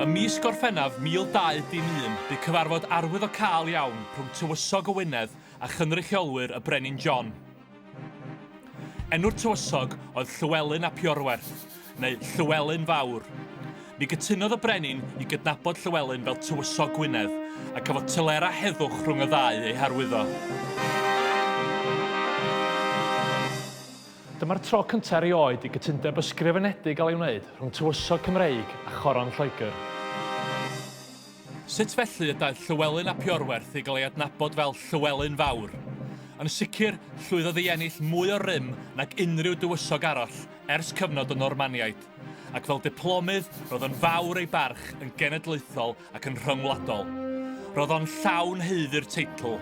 Ym mis Gorffennaf 1201, bu cyfarfod arwyddocaol iawn rhwng Tywysog Owenedd a chynrychiolwyr y Brenin John. Enw'r tywysog oedd Llywelyn ap Iorwerth, neu Llywelyn Fawr. Ni gytunodd y brenin i gydnabod Llywelyn fel Tywysog Gwynedd, a cafodd tylera heddwch rhwng y ddau ei harwyddo. Dyma'r tro cyntaf erioed i gytundeb ysgrifenedig gael ei wneud rhwng tywysog Cymreig a choron Lloegr. Sut felly y daeth Llywelyn ap Iorwerth i gael ei adnabod fel Llywelyn Fawr? Yn sicr, llwyddodd i ennill mwy o rym nag unrhyw dywysog arall ers cyfnod y Normaniaid, ac fel diplomydd roedd yn fawr ei barch yn genedlaethol ac yn rhyngwladol. Roedd o'n llawn haeddu'r teitl,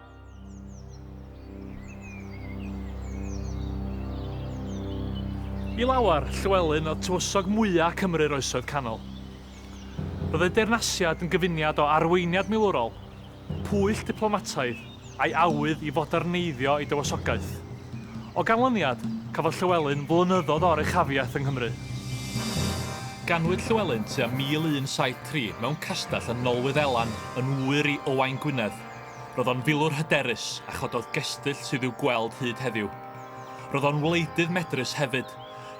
I lawer, Llywelyn oedd tywysog mwya' Cymru'r Oesoedd Canol. Roedd ei deyrnasiad yn gyfuniad o arweiniad milwrol, pwyll diplomataidd a'i awydd i foderneiddio ei dywysogaeth. O ganlyniad, cafodd Llywelyn flynyddoedd o oruchafiaeth yng Nghymru. Ganwyd Llywelyn tua 1173 mewn castell yn Nolwyddelan yn ŵyr i Owain Gwynedd, Roedd o'n filwr hyderus a chododd gestyll sydd i'w gweld hyd heddiw. Roedd o'n wleidydd medrus hefyd.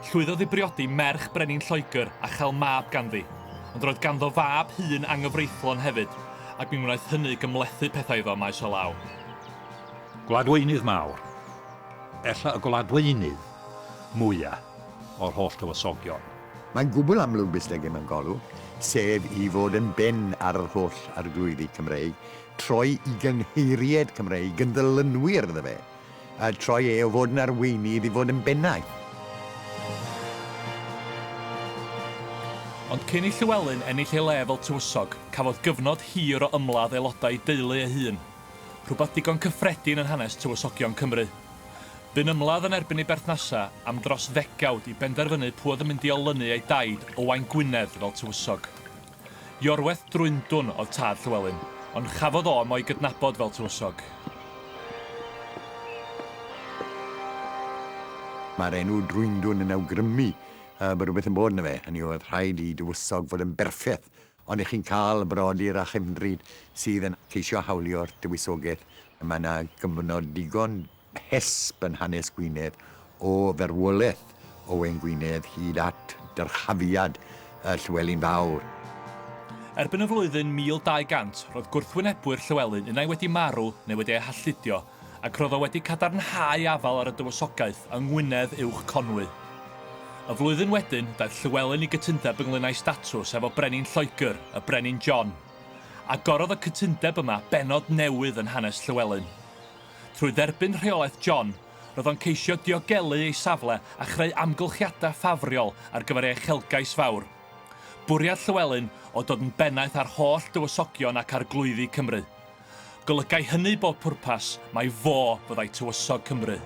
Llwyddodd i briodi merch brenin Lloegr a chael mab ganddi, ond roedd ganddo fab hŷn anghyfreithlon hefyd, ac mi wnaeth hynny gymhlethu pethau iddo maes o law. Gwladweinydd mawr. Ella y gwladweinydd mwya' o'r holl dywysogion. Mae'n gwbl amlwg beth dygem yn golwg, sef i fod yn ben ar yr holl arglwyddi Cymreig, troi i gynheiriaid Cymreig yn ddylunwyr iddo fe, a troi e o fod yn arweinydd i fod yn bennaeth. Ond cyn i Llywelyn ennill ei le fel tywysog, cafodd gyfnod hir o ymladd aelodau ei deulu ei hun, rhywbeth digon cyffredin yn hanes tywysogion Cymru. Bu'n ymladd yn erbyn ei berthnasau am dros ddegawd i benderfynu pwy oedd yn mynd i olynu ei daid, Owain Gwynedd, fel tywysog. Iorwerth Drwyndwn oedd tad Llywelyn, ond chafodd o am o'i gydnabod fel Tywysog. Mae'r enw Drwyndwn yn awgrymu yy bod rhywbeth yn bod yno fe, hynny yw oedd rhaid i Dywysog fod yn berffeth, ond y'ch chi'n cael brodyr a chefndryd sydd yn ceisio hawlio'r Dywysogaeth, mae 'na gyfnod digon hesb yn hanes Gwynedd o ferwolaeth Owain Gwynedd hyd at dyrchafiad y Llywelyn Fawr. Erbyn y flwyddyn 1200, roedd gwrthwynebwyr Llywelyn unai wedi marw neu wedi eu halltudio, ac roedd o wedi cadarnhau afael ar y Dywysogaeth yng Ngwynedd Uwch Conwy. Y flwyddyn wedyn, daeth Llywelyn i gytundeb ynglŷn â'i statws efo Brenin Lloegr, y Brenin John. Agorodd y cytundeb yma bennod newydd yn hanes Llywelyn. Trwy dderbyn rheolaeth John, roedd o'n ceisio diogelu ei safle a chreu amgylchiadau ffafriol ar gyfer ei uchelgais fawr. Bwriad Llywelyn oedd dod yn bennaeth ar holl dywysogion ac arglwyddi Cymru. Golygai hynny bob pwrpas mai fo fyddai tywysog Cymru.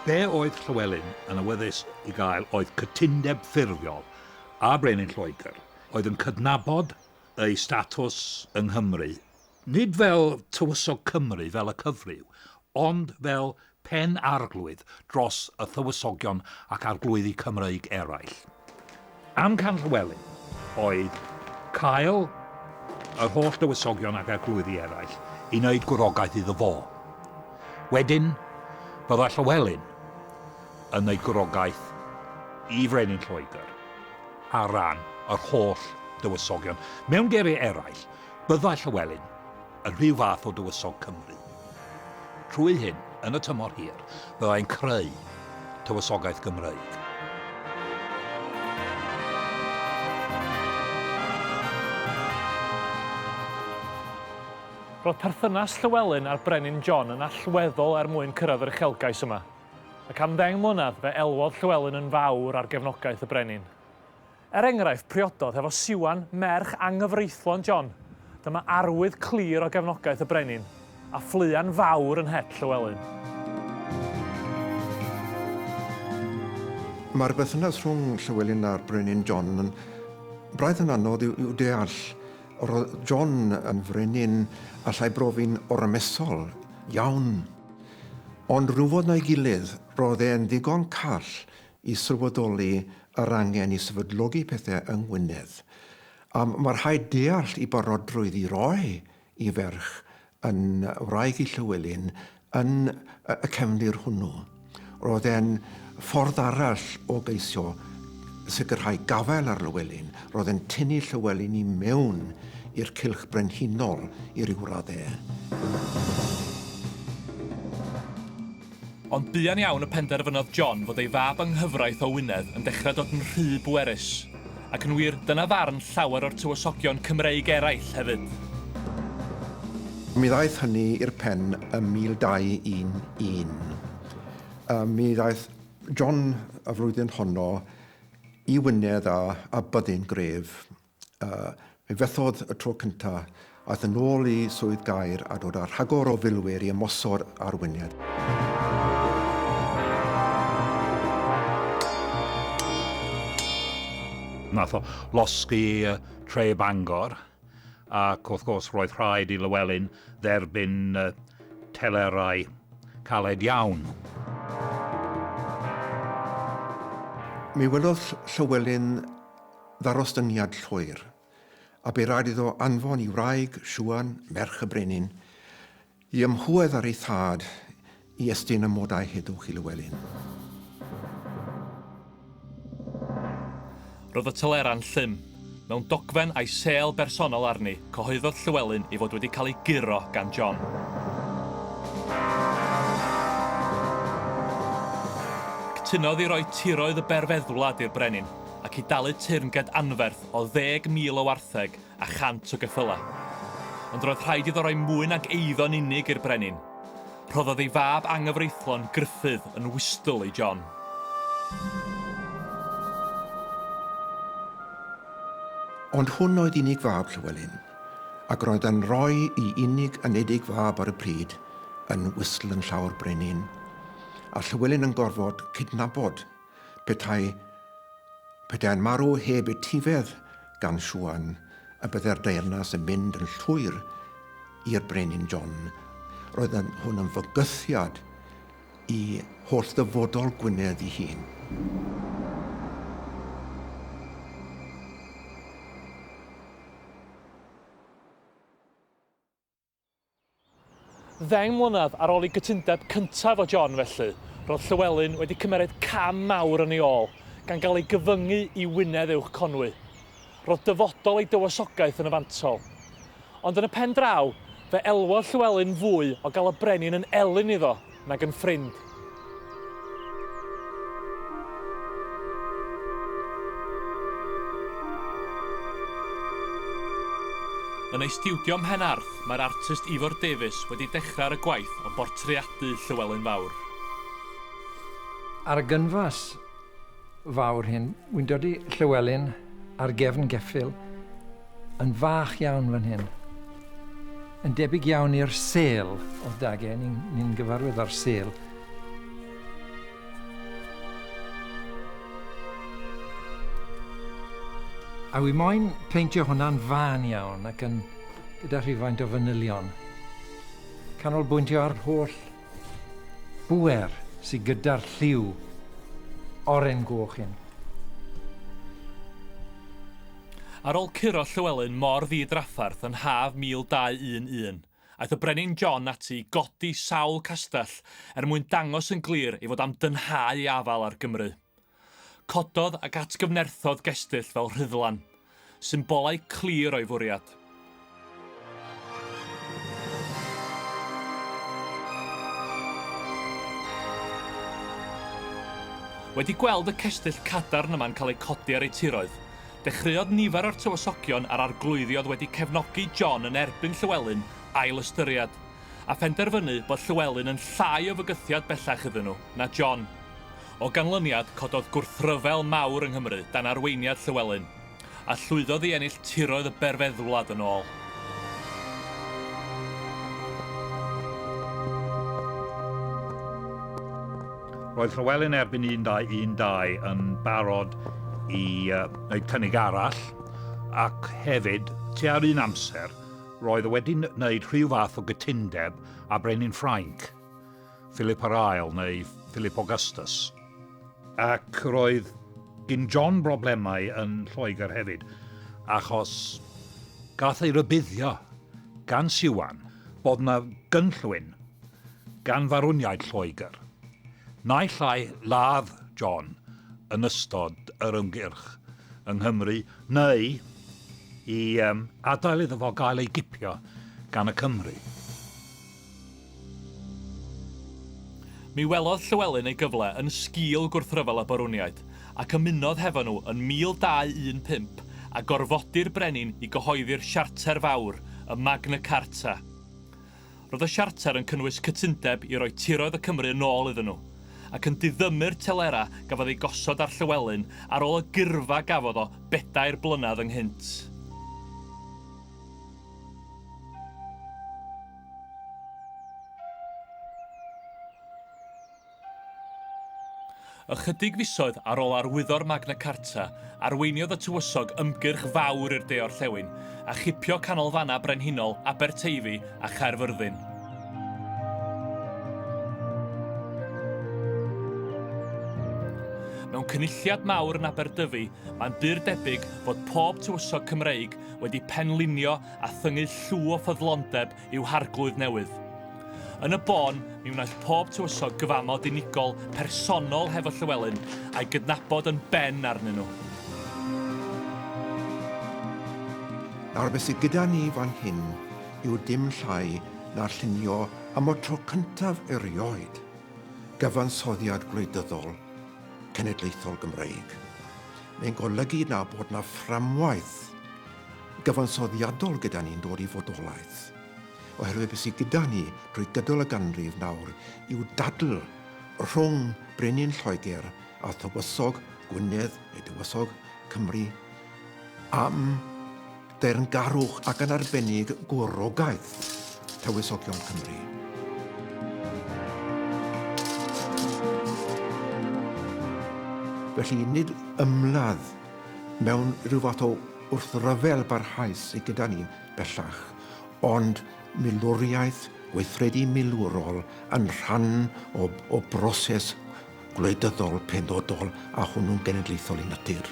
Be oedd Llywelyn yn awyddus i gael oedd cytundeb ffurfiol â brenin Lloegr. oedd yn cydnabod eu statws yng Nghymru, nid fel Tywysog Cymru fel y cyfryw, ond fel pen arglwydd dros y Tywysogion ac arglwyddi Cymreig eraill. Amcan Llywelyn oedd cael yr holl dywysogion ac arglwyddi eraill i wneud gwrogaeth iddo fo. Wedyn, bydda Llywelyn yn ei gwrogaeth i frenin Lloegr ar ran yr holl dywysogion. Mewn geiriau eraill, byddai Llywelyn yn rhyw fath o dywysog Cymru. Trwy hyn, yn y tymor hir, byddai'n creu tywysogaeth Gymreig. Roedd perthynas Llywelyn a'r brenin John yn allweddol er mwyn cyrraedd yr uchelgais yma. Ac am ddeng mlynedd fe elwodd Llywelyn yn fawr ar gefnogaeth y brenin. Er enghraifft, priododd hefo Siwan, merch anghyfreithlon John. Dyma arwydd clir o gefnogaeth y brenin, a ffleuan fawr yn het Llywelyn. Mae'r berthynas rhwng Llywelyn a'r brenin John yn braidd yn anodd i'w deall. Roedd John yn frenin allai brofi'n ormesol iawn. Ond rywfodd na'i gilydd, roedd e'n ddigon call i sylweddoli yr angen i sefydlogi pethau yng Ngwynedd. A mae rhaid deall ei barodrwydd i roi ei ferch yn wraig i Llywelyn yn y cefndir hwnnw. Roedd e'n Ffordd arall o geisio sicrhau gafael ar Lywelyn roedd yn tynnu Llywelyn i mewn i'r cylch brenhinol i ryw raddau. Ond buan iawn y penderfynodd John fod ei fab yng nghyfraith o Wynedd yn dechrau dod yn rhy bwerus. Ac yn wir, dyna farn llawer o'r tywysogion Cymreig eraill hefyd. Mi ddaeth hynny i'r pen ym 1211. A mi ddaeth John y flwyddyn honno i Wynedd a, a byddin gref. Uh, mi fethodd y tro cynta, aeth yn ôl i swydd gair a dod â rhagor o filwyr i ymosod ar Wynedd. Nath o losgi tre Bangor. Ac wrth gwrs roedd rhaid i Llewelyn dderbyn telerau caled iawn. Mi welodd Llywelyn ddarostyngiad llwyr, a bu raid iddo anfon i wraig Siwan, merch y brenin, I ymhwedd ar ei thad, i estyn amodau heddwch i Lywelyn. Roedd y telera'n llym. Mewn dogfen a'i sêl bersonol arni, cyhoeddodd Llywelyn ei fod wedi cael ei guro gan John. Cytunodd i roi tiroedd y berfeddwlad i'r brenin, ac i dalu teyrnged anferth o ddeg mil o wartheg a chant o geffylau. Ond roedd rhaid iddo roi mwy nag eiddo'n unig i'r brenin. Rhoddodd ei fab anghyfreithlon Gruffudd yn wystl i John. Ond hwn oedd unig fab Llywelyn, ac roedd yn rhoi i unig anedig fab ar y pryd yn wystl yn llaw'r brenin, a Llywelyn yn gorfod cydnabod Petai, petai'n marw heb etifedd gan Siwan, y byddai'r deyrnas yn mynd yn llwyr i'r Brenin John. Roedd hwn yn fygythiad i holl ddyfodol Gwynedd i hun. Ddeng mlynedd ar ôl i gytundeb cyntaf o John, felly, roedd Llywelyn wedi cymeryd cam mawr yn ei ôl, gan gael ei gyfyngu i Wynedd Uwch Conwy. Roedd dyfodol ei dywysogaeth yn y fantol. Ond yn y pen draw, fe elwodd Llywelyn fwy o gael y brenin yn elyn iddo. nag yn ffrind. Yn ei stiwdio Mhen Arth, mae'r artist Ifor Davies wedi dechrau ar y gwaith o bortreadu Llywelyn Fawr. Ar y gynfas, fawr hyn. Wy'n dod i Llywelyn ar gefn geffyl yn fach iawn fan hyn. Yn debyg iawn i'r sel o dage, ni'n ni, ni gyfarwydd â'r sel. A wy moyn peintio hwnna'n fan iawn ac yn gyda rhywfaint o fanylion. Canolbwyntio ar holl Bŵer sy gyda'r lliw oren goch hyn. Ar ol curo Llywelyn mor ddi-draffarth yn haf 1211, aeth y Brenin John ati i godi sawl castell er mwyn dangos yn glir ei fod am dynhau ei afal ar Gymru. Cododd ac atgyfnerthodd gestyll fel rhuddlan, symbolau clir o'i fwriad. Wedi gweld y cestyll cadarn yma'n cael eu codi ar eu tiroedd, dechreuodd nifer o'r tywysogion a'r arglwyddi oedd wedi cefnogi John yn erbyn Llywelyn ail-ystyried, a phenderfynu bod Llywelyn yn llai o fygythiad bellach iddyn nhw na John. O ganlyniad, cododd gwrthryfel mawr yng Nghymru dan arweiniad Llywelyn, a llwyddodd i ennill tiroedd y berfeddwlad yn ôl. Roedd Llywelyn erbyn 1212 yn barod i wneud cynnig arall, ac hefyd, tua'r un amser, roedd o wedi wneud rhyw fath o gytundeb â brenin Ffrainc. Philip yr Ail, neu Philip Augustus. Ac roedd gin John broblemau yn Lloegr hefyd, achos gath ei rybuddio gan Siwan bod yna gynllwyn gan farwniaid Lloegr, naill ai ladd John yn ystod yr ymgyrch yng Nghymru, neu i adael iddo fo gael ei gipio gan y Cymry. Mi welodd Llywelyn ei gyfle yn sgil gwrthryfel y Barwniaid, ac ymunodd hefo nhw yn 1215 a gorfodi'r brenin i gyhoeddi'r Siarter Fawr, y Magna Carta. Roedd y Siarter yn cynnwys cytundeb i roi tiroedd y Cymry yn ôl iddyn nhw, ac yn diddymu'r telera gafodd ei gosod ar Llywelyn ar ôl y gyrfa gafodd o bedair blynedd ynghynt. Ychydig fisoedd ar ôl arwyddo'r Magna Carta, arweiniodd y Tywysog ymgyrch fawr i'r de-orllewin, a chipio canolfannau brenhinol Aberteifi a Chaerfyrddin. Mewn cynulliad mawr yn Aberdyfi, mae'n bur debyg fod pob tywysog Cymreig wedi penlinio a thyngu llw o ffyddlondeb i'w harglwydd newydd. Yn y bôn, mi wnaeth pob tywysog gyfamod unigol, personol hefo Llywelyn, a'i gydnabod yn ben arnyn nhw. Nawr be sy gyda ni fan hyn yw dim llai na'r llunio am y tro cyntaf erioed gyfansoddiad gwleidyddol cenedlaethol Gymreig. Mae'n golygu na bod na fframwaith gyfansoddiadol gyda ni'n dod i fodolaeth, oherwydd beth sydd gyda ni drwy gydol y ganrif nawr yw dadl rhwng brenin Lloegr a thywysog Gwynedd neu dywysog Cymru am deyrngarwch ac yn arbennig gwrogaeth Tywysogion Cymru. Felly, nid ymladd mewn rhyw fath o wrthryfel barhaus sydd gyda ni bellach, ond milwriaeth, weithredu milwrol yn rhan o, o broses gwleidyddol penodol a hwnnw'n genedlaethol i natur.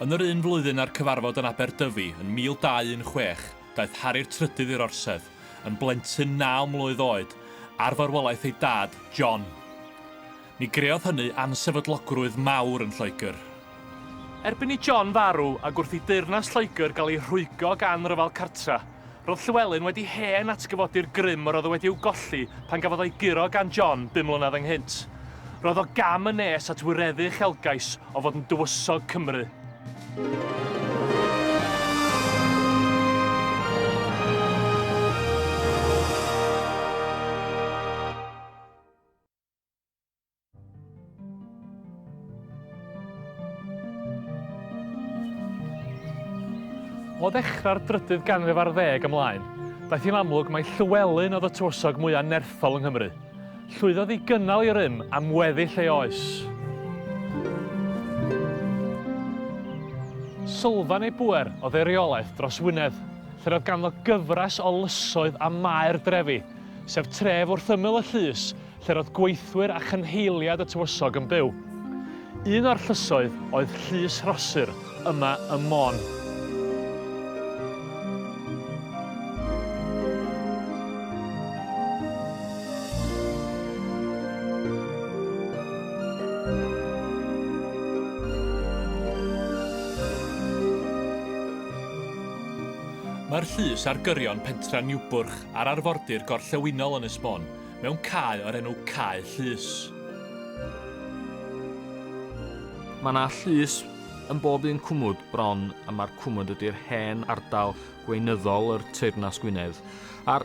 Yn yr un flwyddyn â'r cyfarfod yn Aberdyfi yn 1216, daeth Harri'r Trydydd i'r Orsedd, yn blentyn naw mlwydd oed, ar farwolaeth ei dad, John. Ni greodd hynny ansefydlogrwydd mawr yn Lloegr. Erbyn i John farw ac wrth i deyrnas Lloegr gael ei rhwygo gan ryfel cartref, roedd Llywelyn wedi hen atgyfodi'r grym yr oedd o wedi i'w golli pan gafodd o'i guro gan John bum mlynedd ynghynt. Roedd o gam yn nes at wireddu uchelgais o fod yn dywysog Cymru. O ddechrau'r drydydd ganrif ar ddeg ymlaen, daeth hi'n amlwg mai Llywelyn oedd y tywysog mwyaf nerthol yng Nghymru. Llwyddodd i gynnal ei rym am weddill ei oes. Sylfaen ei bŵer oedd ei reolaeth dros Wynedd, lle roedd ganddo gyfres o lysoedd a maer drefi, sef tref wrth ymyl y llys lle roedd gweithwyr a chynheiliad y tywysog yn byw. Un o'r llysoedd oedd Llys Rhosyr, yma ym Môn. Mae'r llys ar gyrion pentra Niwbwrch ar arfordir gorllewinol Ynys Môn, mewn cae o'r enw Cae Llys. Mae yna llys yn bob un cwmwd bron a mae'r cwmwd ydy'r hen ardal gweinyddol yr Teyrnas Gwynedd. A'r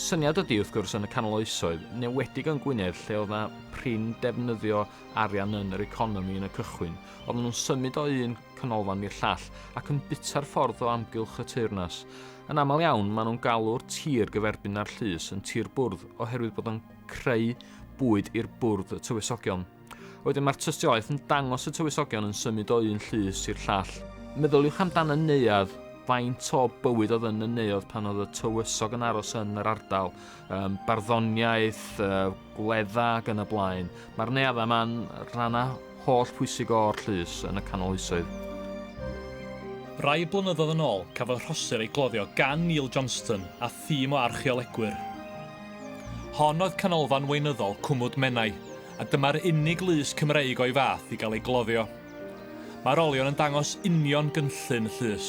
syniad ydy, wrth gwrs, yn y canol oesoedd, newedig yn Gwynedd lle oedd yna prin defnyddio arian yn yr economi yn y cychwyn, oedden nhw'n symud o un canolfan i'r llall ac yn bita'r ffordd o amgylch y teyrnas. Yn aml iawn, maen nhw'n galw'r tir gyferbyn â'r llys yn tir bwrdd oherwydd bod o'n creu bwyd i'r bwrdd y tywysogion. Wedyn mae'r tystiolaeth yn dangos y tywysogion yn symud o un llys i'r llall. Meddyliwch amdan y neuadd, faint o bywyd oedd yn y neuadd pan oedd y tywysog yn aros yn yr ardal, um, barddoniaeth, uh, gwledda ac yn y blaen. Mae'r neaddau yma'n rhannau holl pwysig o'r llys yn y canol oesoedd. Rai blynyddoedd yn ôl, cafodd Rhosir ei gloddio gan Neil Johnston a thîm o archeolegwyr. Hon oedd canolfan weinyddol Cwmwd Menai, a dyma'r unig lys Cymreig o'i fath i gael ei gloddio. Mae'r olion yn dangos union gynllun y llys.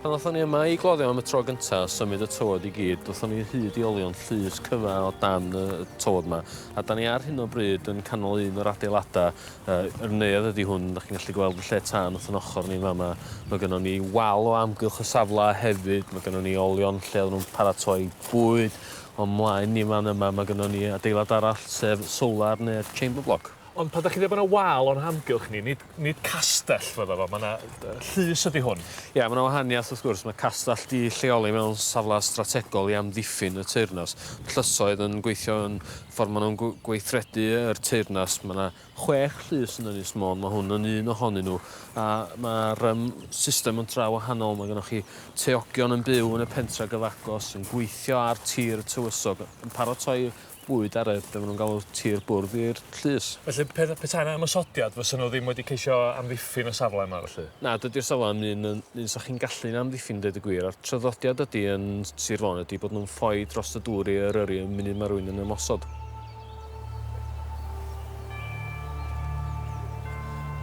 Pan ddothon ni yma i gloddio am y tro gynta, symud y tywod i gyd, dothon ni hyd i olion llys cyfa o dan y tywod yma. A da ni ar hyn o bryd yn canol un o'r adeiladau. Uh, yr neuadd ydy hwn, da chi'n gallu gweld y lle tân wrth yn ochr ni fama. Mae gennym ni wal o amgylch y safle hefyd, mae gennym ni olion lle oedden nhw'n paratoi bwyd. Ond mlaen ni fan yma, mae gennym ni adeilad arall sef solar neu'r chamber block. Ond pan da chi ddim yn y wal o'n hamgylch ni, nid Nid castell fyddo fo, ma' 'na yy llys ydi hwn. Ia ma' 'na wahaniath wrth gwrs, ma' castell 'di lleoli mewn safle strategol i amddiffyn y teyrnas. Ma' llysoedd yn gweithio yn ffor ma' nw'n gw- gweithredu yr teyrnas ma' 'na chwech llys yn Ynys Môn ma' hwn yn un ohonyn n'w a ma'r yym system yn dra wahanol ma' gynnoch chi teogion yn byw yn y pentre gyfagos yn gweithio ar tir y tywysog yn paratoi bwyd ar y, be' ma' nw'n galw, tir bwrdd i'r llys. Felly pe- petai 'na ymosodiad fysa n'w ddim wedi ceisio amddiffyn y safle yma felly? Na, dydi'r safle ddim un yn un 'sa chi'n gallu'n amddiffyn deud y gwir, a'r traddodiad ydi yn Sir Fôn ydi bod nhw'n ffoi drost y dŵr i Eryri y munud ma' rywun yn ymosod.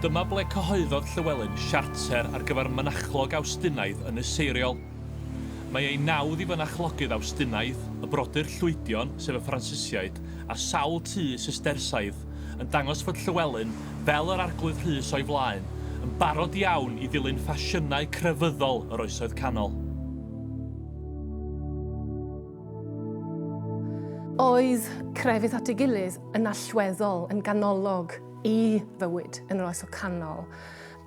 Dyma ble cyhoeddodd Llywelyn siarter ar gyfer mynachlog Awstinaidd yn y Seiriol. Mae ei nawdd i fynachlogydd Awstinaidd, y brodyr Llwydion, sef y Ffransisiaid, a sawl tŷ Sistersaidd, yn dangos fod Llywelyn, fel yr Arglwydd Rhys o'i flaen, yn barod iawn i ddilyn ffasiynau crefyddol yr Oesoedd Canol. Oedd crefydd at ei gilydd yn allweddol yn ganolog i fywyd yn yr Oesoedd Canol.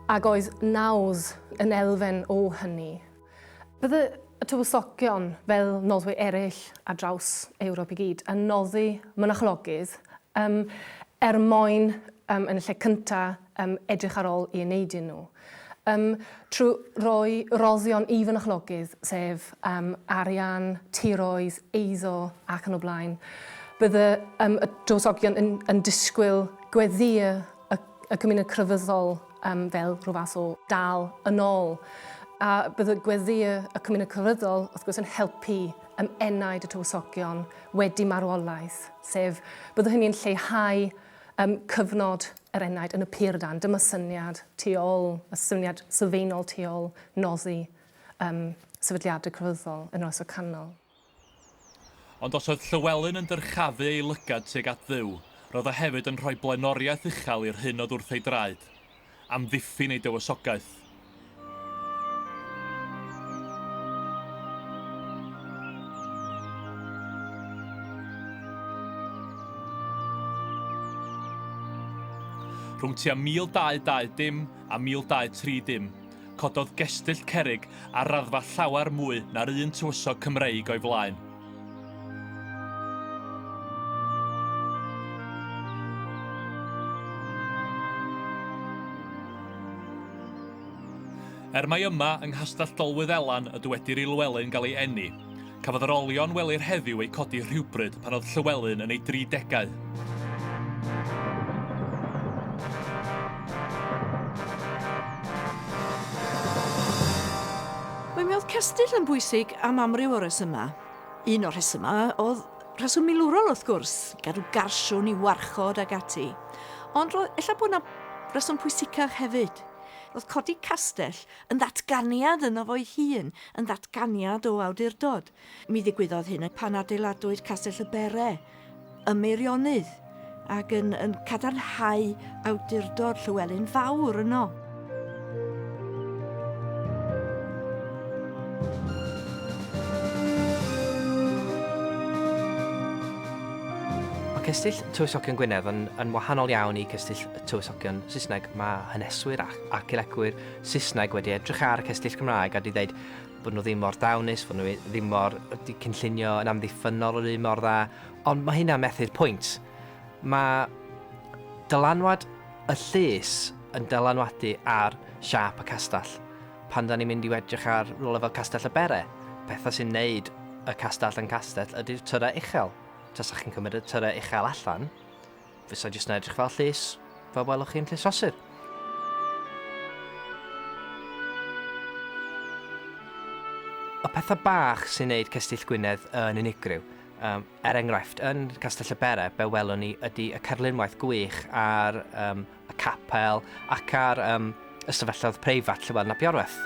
Ac oes nawdd yn elfen o hynny? Bydde y tywysogion, fel noddwyr eraill ar draws Ewrop i gyd, yn noddi mynachlogydd um, er mwyn, um, yn y lle cyntaf, um, edrych ar ôl i eneidyn nhw. Um, trwy roi roddion i fynachlogydd, sef um, arian, tiroedd, eiddo ac yn y blaen. Bydde um, y tywysogion yn, yn disgwyl gweddiau y, y gymuned crefyddol um, fel rhyw fath o dal yn ôl. A bydd y gweddi y, y cymuned crefyddol, wrth gwrs, yn helpu ym enaid y tywysogion wedi marwolaeth, sef byddwn hynny'n lleihau um, cyfnod yr enaid yn y pur dan. Dyma syniad tu ôl, y syniad sylfaenol tu ôl noddi um, sefydliadau crefyddol yn oes o canol. Ond os oedd Llywelyn yn dyrchafu ei lygad tuag at Dduw, roedd o hefyd yn rhoi blaenoriaeth uchel i'r hyn oedd wrth ei draed, amddiffyn ei dywysogaeth. Rhwng tua 1220 a 1230, cododd gestyll cerrig ar raddfa llawer mwy na'r un tywysog Cymreig o'i flaen. Er mai yma yng Nghastell Dolwydd Elan y dywedir i Lywelyn gael ei eni, Cafodd yr olion welir heddiw eu codi rhywbryd pan oedd Llywelyn yn ei dri degau. Mae Medd Cestyll yn bwysig am amryw o resymau. Un o'r rhesymau oedd rheswm milwrol wrth gwrs, gadw garsiwn i warchod ag ati. Ond roedd ella bod yna reswm pwysicach hefyd. Roedd codi castell yn ddatganiad yno fo'i hun, yn ddatganiad o awdurdod. Mi ddigwyddodd hyn yn pan adeiladwyd Castell y Bere ym Meirionnydd, ac yn, yn cadarnhau awdurdod Llywelyn Fawr yno. Cestyll Tywysogion Gwynedd yn, yn wahanol iawn i Cestyll Tywysogion Saesneg. Mae haneswyr ac archeolegwyr Saesneg wedi edrych ar y cestyll Cymraeg a wedi dweud bod nhw ddim mor dawnus, bod nhw ddim mor... wedi cynllunio yn amddiffynnol yr un mor dda, ond mae hynna'n methu'r pwynt. Mae dylanwad y llys yn dylanwadu ar siâp y castell. Pan da ni'n mynd i edrych ar rhywle fel Castell y Bere, pethau sy'n neud y castell yn castell ydy'r tyrau uchel. Tasach chi'n cymryd y tyrau uchel allan, fysa jyst yn edrych fel llys, fel welwch chi'n llys fasur. Y pethau bach sy'n neud Cestyll Gwynedd yn unigryw, um, er enghraifft, yn Castell y Bere, be welwn ni ydy y cerlunwaith gwych ar um, y capel ac ar um, y stafelloedd preifat lle weld na biorweth.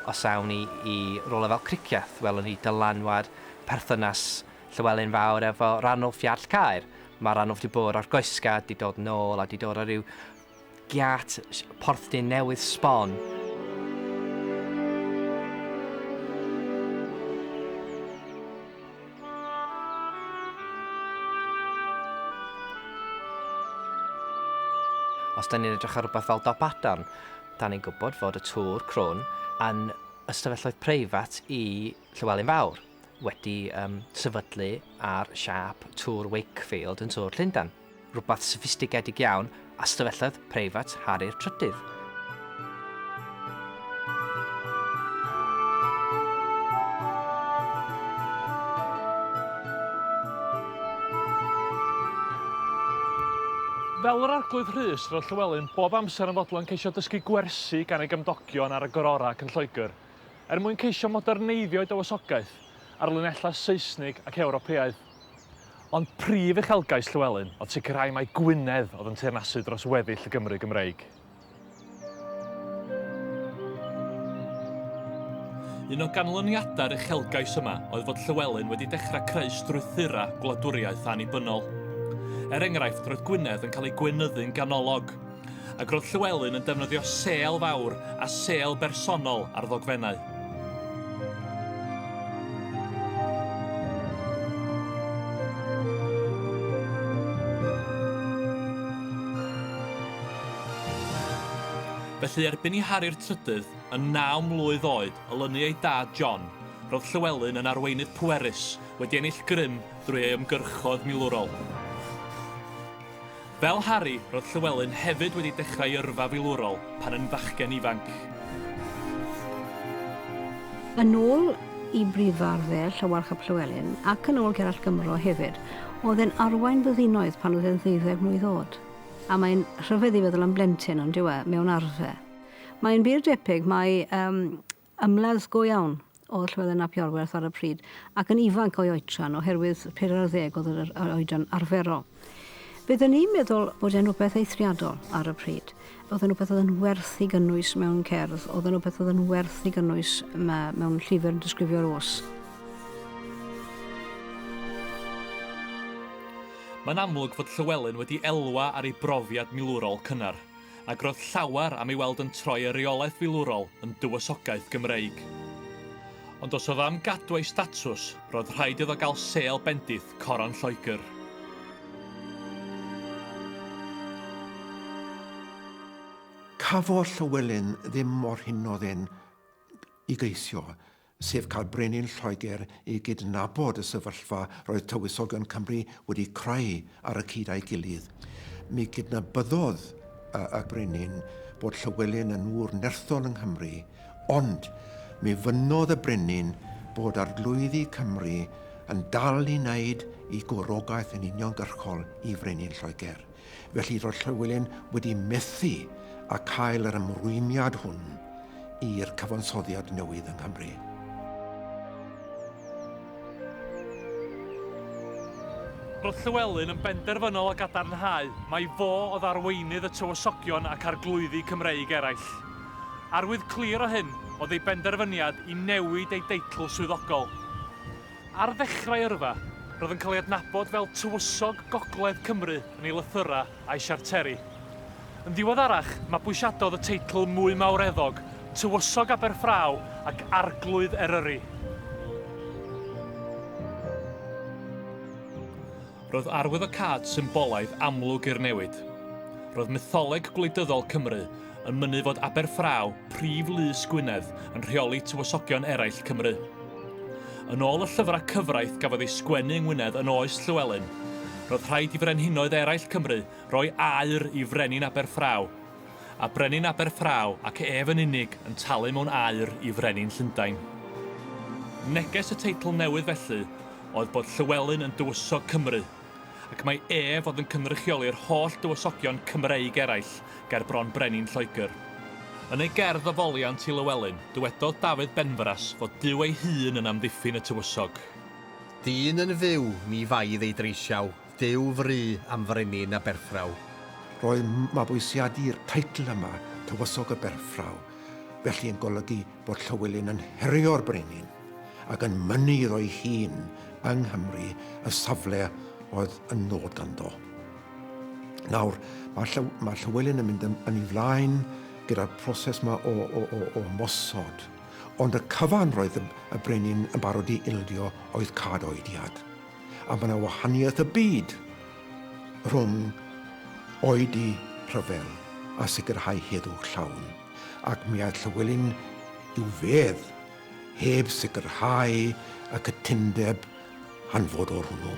Os awn ni i rywle fel Cricieth, welwn ni dylanwad perthynas Llywelyn Fawr efo Ranulf Iarll Caer. Mae Ranulf 'di bod ar goesga, 'di dod nôl a 'di dod o ryw giât Porthdin newydd sbon. Os 'dan ni'n edrych ar rwbath fel Dopadan, Da ni'n gwybod fod y tŵr crwn yn ystafelloedd preifat i Llywelyn Fawr, wedi um, sefydlu ar siâp tŵr Wakefield yn Tŵr Llundan, rhywbeth soffistigedig iawn, ystafelloedd preifat Harri'r Trydydd. Fel yr Arglwydd Rhys, roedd Llywelyn bob amser yn fodlon ceisio dysgu gwersi gan ei gymdogion ar y gororau ac yn Lloegr, er mwyn ceisio moderneiddio ei dywysogaeth ar linellau Seisnig ac Ewropeaidd. Ond prif uchelgais Llywelyn oedd sicrhau mai Gwynedd oedd yn teyrnasu dros weddill y Gymru Gymreig. Un o ganlyniadau'r uchelgais yma oedd fod Llywelyn wedi dechrau creu strwythurau gwladwriaeth annibynnol. Er enghraifft, roedd Gwynedd yn cael ei gweinyddu'n ganolog, ac roedd Llywelyn yn defnyddio sêl fawr a sêl bersonol ar ddogfennau. Felly erbyn i Harri'r Trydydd, yn naw mlwydd oed, olynu ei dad John, roedd Llywelyn yn arweinydd pwerus, wedi ennill grym drwy ei ymgyrchoedd milwrol. Fel Harri, roedd Llywelyn hefyd wedi dechrau ei yrfa filwrol pan yn fachgen ifanc. Yn ôl y Brifarddel Llywarch ap Llywelyn, ac yn ôl Gerallt Gymro hefyd, oedd e'n arwain byddinoedd pan oedd e'n ddeuddeg mlwydd oed. A mae'n rhyfedd i feddwl am blentyn, on'd yw e, mewn arfe. Mae'n wir debyg mai Ymladd go iawn oedd Llywelyn ap Iorwerth ar y pryd, ac yn ifanc o'i oedran, oherwydd pedair ar ddeg oedd yr oedran arferol. Bydden i'n meddwl bod e'n rhywbeth eithriadol ar y pryd. Oedd yn rhywbeth oedd yn werth ei gynnwys mewn cerdd, oedd yn rhywbeth oedd yn werth ei gynnwys mewn llyfr yn disgrifio'r os. Mae'n amlwg fod Llywelyn wedi elwa ar ei brofiad milwrol cynnar. ac roedd llawer am ei weld yn troi y reolaeth filwrol yn dywysogaeth Gymreig. Ond os oedd am gadw ei statws, roedd rhaid iddo gael sêl bendith Coron Lloegr. Cafodd Llywelyn ddim mor hynod ên i geisio. sef cael brenin Lloegr i gydnabod y sefyllfa roedd Tywysogion Cymru wedi creu ar y cyd â'i gilydd. Mi gydnabyddodd y, y brenin bod Llywelyn yn ŵr nerthol yng Nghymru, ond mi fynnodd y brenin bod arglwyddi Cymru yn dal i wneud i gwrogaeth yn uniongyrchol i frenin Lloegr. Felly roedd Llywelyn wedi methu â chael yr ymrwymiad hwn i'r cyfansoddiad newydd yng Nghymru. Roedd Llywelyn yn benderfynol o gadarnhau mai fo oedd arweinydd y Tywysogion ac Arglwyddi Cymreig eraill. Arwydd clir o hyn oedd ei benderfyniad i newid ei deitl swyddogol. Ar ddechrau yrfa, roedd yn cael ei adnabod fel Tywysog Gogledd Cymru yn ei lythyrau a'i siarteri. Yn ddiweddarach, mabwysiadodd y teitl mwy mawreddog, Tywysog Aberffraw ac Arglwydd Eryri. Roedd arwyddocâd symbolaidd amlwg i'r newid. Roedd mytholeg gwleidyddol Cymru yn mynnu fod Aberffraw, prif lys Gwynedd, yn rheoli tywysogion eraill Cymru. Yn ôl y llyfrau cyfraith gafodd ei sgwennu yng Ngwynedd yn oes Llywelyn, roedd rhaid i frenhinoedd eraill Cymru roi aur i frenin Aberffraw a brenin Aberffraw ac ef yn unig yn talu mewn aur i frenin Llundain. Neges y teitl newydd felly oedd bod Llywelyn yn dywysog Cymru, ac mai ef oedd yn cynrychioli'r holl dywysogion Cymreig eraill ger bron brenin Lloegr. Yn ei gerdd o foliant i Lywelyn, dywedodd Dafydd Benfras fod Duw ei hun yn amddiffyn y tywysog. Dyn yn fyw, ni faidd ei dreisiau. Duw fry am frenin a berthraw. Roedd mabwysiadu'r teitl yma, Tywysog y Berthraw, felly yn golygu bod Llywelyn yn herio'r brenin ac yn mynnu iddo'i hun yng Nghymru y safle oedd yn nod ganddo. Nawr, mae, Llyw, mae Llywelyn yn mynd yn, yn ei flaen gyda'r proses yma o, o, o, o mosod, ond y cyfan roedd y, y brenin yn barod i ildio oedd cad oediad. A mae yna wahaniaeth y byd rhwng oedi rhyfel a sicrhau heddwch llawn, ac mi aeth Llywelyn i'w fedd heb sicrhau y cytundeb hanfodol hwnnw.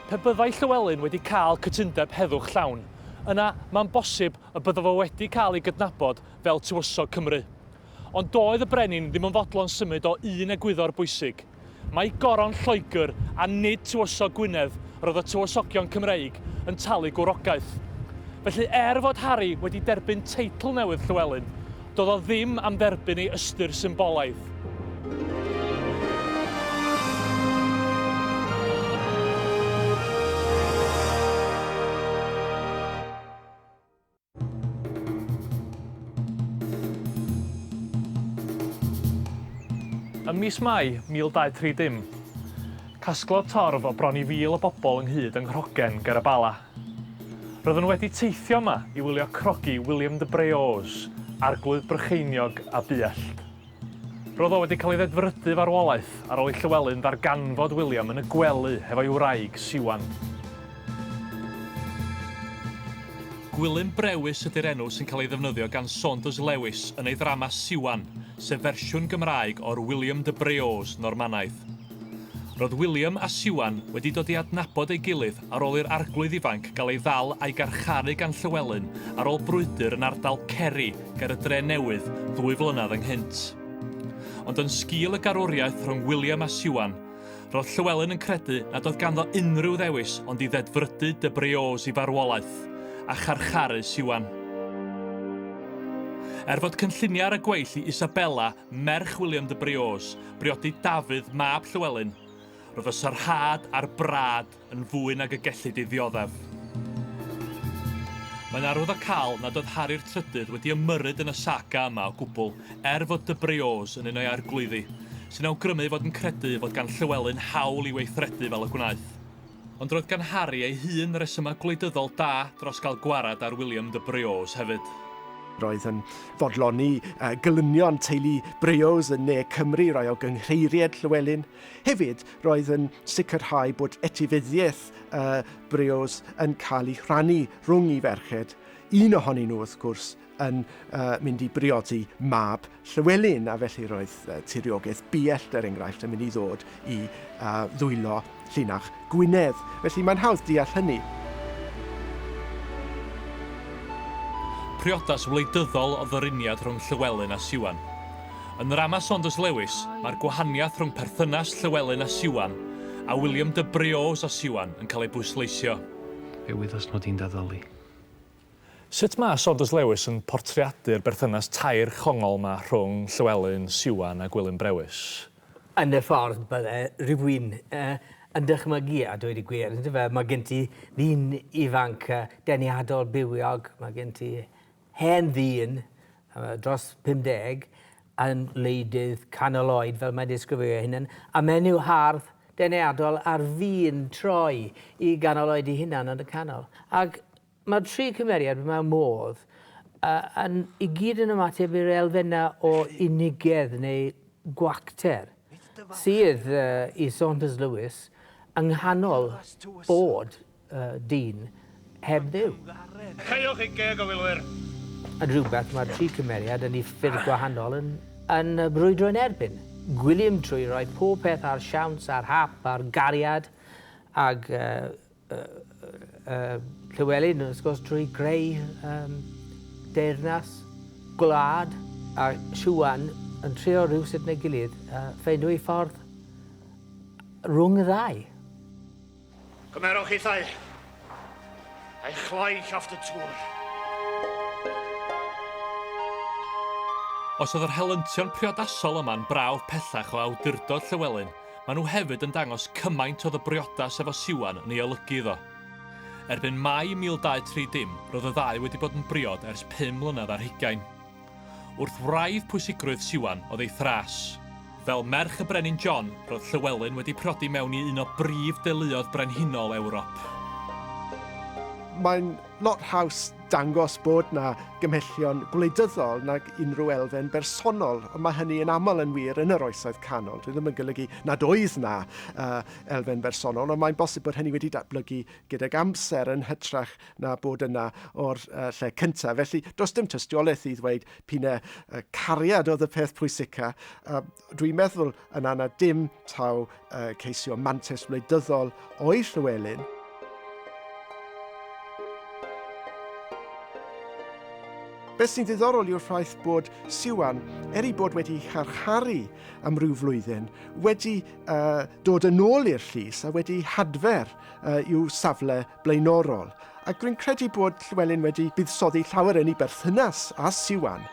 Pe byddai Llywelyn wedi cael cytundeb heddwch llawn, yna mae'n bosib y byddaf o wedi cael ei gydnabod fel Tywysog Cymru. Ond doedd y brenin ddim yn fodlon symud o un egwyddor bwysig. Mai goron Lloegr a nid tywysog Gwynedd roedd y tywysogion Cymreig yn talu gwrogaeth. Felly er fod Harri wedi derbyn teitl newydd Llywelyn, doedd o ddim am dderbyn ei ystyr symbolaidd. Ym mis Mai 1230, casglodd torf o bron i fil o bobl ynghyd yng Nghrogen ger y Bala. Roedden nhw wedi teithio yma i wylio crogi William de Breaux, arglwydd Brycheiniog a Buallt. Roedd o wedi cael ei ddedfrydu farwolaeth ar ôl i Llywelyn ddarganfod William yn y gwely hefo'i wraig Siwan. Gwilym Brewis ydy'r enw sy'n cael ei ddefnyddio gan Saunders Lewis yn ei ddrama Siwan, sef fersiwn Gymraeg o'r William de Breaux Normanaidd. Roedd William a Siwan wedi dod i adnabod ei gilydd Ar ôl i'r Arglwydd ifanc gael ei ddal a'i garcharu gan Llywelyn ar ôl brwydr yn ardal Ceri ger y Dre Newydd ddwy flynedd ynghynt. Ond yn sgil y garwriaeth rhwng William a Siwan, roedd Llywelyn yn credu nad oedd ganddo unrhyw ddewis ond i ddedfrydu de Briouse i farwolaeth, a charcharu Siwan. Er fod cynlluniau ar y gweill i Isabella, merch William de Briouse, briodi Dafydd, mab Llywelyn, Roedd y sarhad a'r brâd yn fwy nag y gellid ei ddioddef. Mae'n arwyddocaol nad oedd Harri'r Trydydd wedi ymyrryd yn y saga yma o gwbl, er fod de Breaux yn un o'i arglwyddi, sy'n awgrymu ei fod yn credu fod gan Llywelyn hawl i weithredu fel y gwnaeth. Ond roedd gan Harri ei hun resymau gwleidyddol da dros gael gwared ar William de Breaux hefyd. Roedd yn fodloni gelynion teulu Breaux yn ne Cymru i roi o gynghreiried Llywelyn. Hefyd, roedd yn sicrhau bod etifeddiaeth y brios yn cael ei rhannu rhwng i ferched, un ohonyn nhw wrth gwrs yn uh, mynd i briodi mab Llywelyn, a felly roedd uh, tiriogaeth biellt, er enghraifft, yn mynd i ddod i uh, ddwylo llinach Gwynedd, felly mae'n hawdd deall hynny. Priodas wleidyddol oedd y runiad rhwng Llywelyn a Siwan. Yn ndrama Saunders Lewis, mae'r gwahaniaeth rhwng perthynas Llywelyn a Siwan a William de Breaux a Siwan yn cael ei bwysleisio. Fe wyddys mod i'n daddoli. Sut mae Saunders Lewis yn portreadu'r berthynas tair chongol 'ma rhwng Llywelyn, Siwan a Gwilym Brewis? Yn y ffordd bydde rhywun yn dychmygu, a dweud y gwir, ynde fe, mae gen ti ddyn ifanc deniadol bywiog, mae gen ti hen ddyn dros 50 yn wleidydd canol oed, fel mae'n disgrifio ei hunan, a menyw hardd deniadol ar fin troi i ganol oed ei hunan yn y canol. Ac Mae'r tri cymeriad, mae modd, yn i gyd yn ymateb i'r elfennau o unigedd neu gwacter sydd i Saunders Lewis yng nghanol bod dyn heb dduw. Caewch chi geg o filwyr! Yn rhywbeth mae'r tri cymeriad yn i ffyrdd gwahanol yn brwydro yn erbyn. Gwilym trwy roi pob peth ar siawns ar hap ar gariad ag Llywelyn, wrth gwrs, drwy greu um, deyrnas, gwlad, a Siwan yn trio rhywsut neu gilydd uh, ffeindio ei ffordd rhwng y ddau. Cymerwch hithau, a'i chloi llofft y tŵr. Os oedd yr helyntion priodasol yma'n brawf pellach o awdurdod Llywelyn, Maen nhw hefyd yn dangos cymaint oedd y briodas efo Siwan yn ei olygu iddo. Erbyn Mai 1230, roedd y ddau wedi bod yn briod ers pum mlynedd ar hugain. Wrth wraidd pwysigrwydd Siwan oedd ei thras. Fel merch y Brenin John, roedd Llywelyn wedi priodi mewn i un o brif deuluoedd brenhinol Ewrop. Mae'n Lot haws dangos bod 'na gymhellion gwleidyddol nag unrhyw elfen bersonol, ond mae hynny yn aml yn wir yn yr Oesoedd Canol. Dwi ddim yn golygu nad oedd 'na uh, elfen bersonol, ond mae'n bosib bod hynny wedi datblygu gydag amser yn hytrach na bod yna o'r uh, lle cyntaf. Felly, does dim tystiolaeth i ddweud pine uh, cariad oedd y peth pwysica. Uh, Dwi'n meddwl yn anna dim taw uh, ceisio mantes wleidyddol o'i Llywelyn, Beth sy'n ddiddorol yw'r ffaith bod Siwan, er i bod wedi charcharu am ryw flwyddyn, wedi uh, dod yn ôl i'r llys a wedi hadfer uh, i'w safle blaenorol, ac rwy'n credu bod Llewelyn wedi buddsoddi llawer yn ei berthynas â Siwan.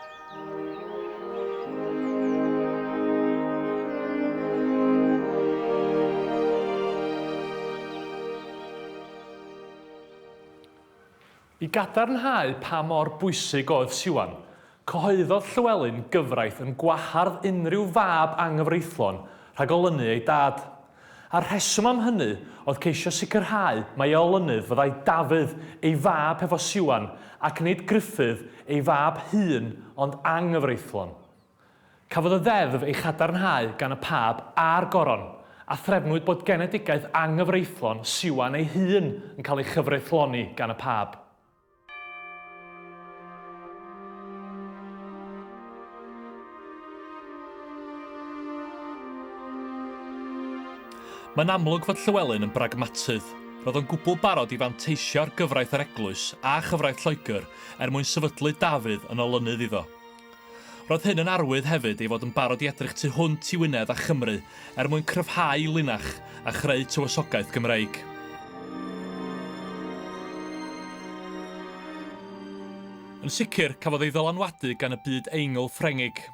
I gadarnhau pa mor bwysig oedd Siwan, Cyhoeddodd Llywelyn gyfraith yn gwahardd unrhyw fab anghyfreithlon rhag olynu ei dad. A'r rheswm am hynny oedd ceisio sicrhau mai olynydd fyddai Dafydd, ei fab hefo Siwan, ac nid Gruffudd, ei fab hŷn ond anghyfreithlon. Cafodd y ddeddf ei chadarnhau gan y Pab a'r Goron, a threfnwyd bod genedigaeth anghyfreithlon Siwan ei hun yn cael ei chyfreithloni gan y Pab. Mae'n amlwg fod Llywelyn yn bragmatydd. Roedd o'n gwbl barod i fanteisio ar gyfraith yr eglwys a chyfraith Lloegr er mwyn sefydlu Dafydd yn olynydd iddo. Roedd hyn yn arwydd hefyd ei fod yn barod i edrych tu hwnt i Wynedd a Chymru er mwyn cryfhau linach a chreu tywysogaeth Gymreig. Yn sicr, cafodd ei ddylanwadu gan y byd eingl Ffrengig.